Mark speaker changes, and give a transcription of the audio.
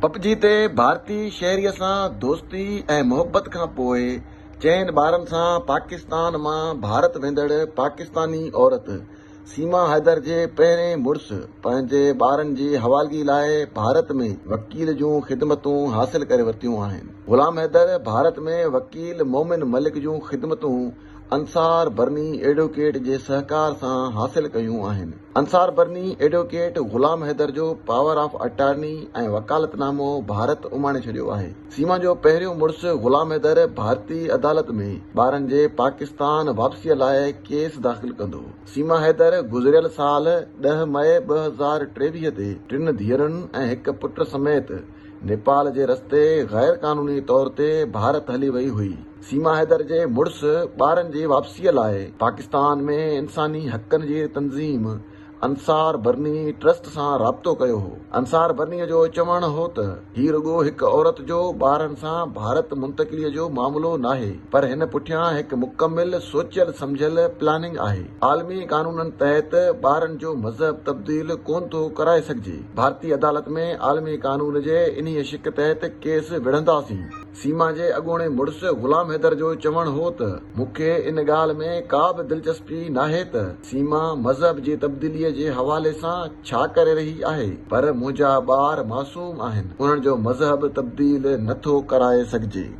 Speaker 1: پپجي تي ڀارتي شهريء سان دوستي ۽ محبت کان پوء چئن ٻارن سان پاڪستان مان ڀارت ويندڙ پاڪستاني عورت سيما حيدر جي پهرين مڙس پنهنجي ٻارن جي حوالگي لاء ڀارت ۾ وڪيل جون خدمتون حاصل ڪري ورتيون آهن. غلام حيدر ڀارت ۾ وڪيل مومن ملڪ جون خدمتون انصار برني ايڊوڪيٽ جي سهڪار سان حاصل ڪيون آهن. انصار برني ايڊوڪيٽ غلام حيدر جو پاور آف اٽارني ۽ وڪالت نامو ڀارت اماڻي ڇڏيو آهي. سيما جو پهريون مڙس غلام حيدر ڀارتي عدالت ۾ ٻارن جي پاڪستان واپسيء لاء ڪيس داخل ڪندو. سيما حيدر گذريل سال ڏهه مئي ٻه هزار ٽيويهه تي ٽن ڌيئرن ۽ هڪ پٽ سميت نيپال جي رستي غير قانوني طور تي ڀارت هلي وئي هئي. سيما حيدر جي مڙس ٻارن جي واپسيء لاء پاڪستان ۾ انساني حقن جي تنظيم انصار برني ٽرسٽ سان رابطو ڪيو هو. انصار برني جو چوڻ هو ته هي رڳو هڪ عورت جو ٻارن سان ڀارت منتقليء جو معاملو ناهي پر هن پٺيان هڪ مڪمل سوچيل سمجهيل پلاننگ آهي. عالمي قانونن تحت ٻارن جو مذهب تبديل ڪونه ٿو ڪرائي سگهجي، ڀارتي عدالت ۾ عالمي قانون جي انهيء شق تحت ڪيس وڙهنداسين. سيما جي اڳوڻي مڙس غلام حيدر جو چوڻ هو ته، مون کي ان ڳالهه ۾ ڪا به دلچسپي ناهي ته سيما مذهب جي تبديليء جي حوالي سان ڇا ڪري رهي آهي، پر منهنجا ٻار معصوم آهن، انهن جو مذهب تبديل نه ٿو ڪرائي سگهجي.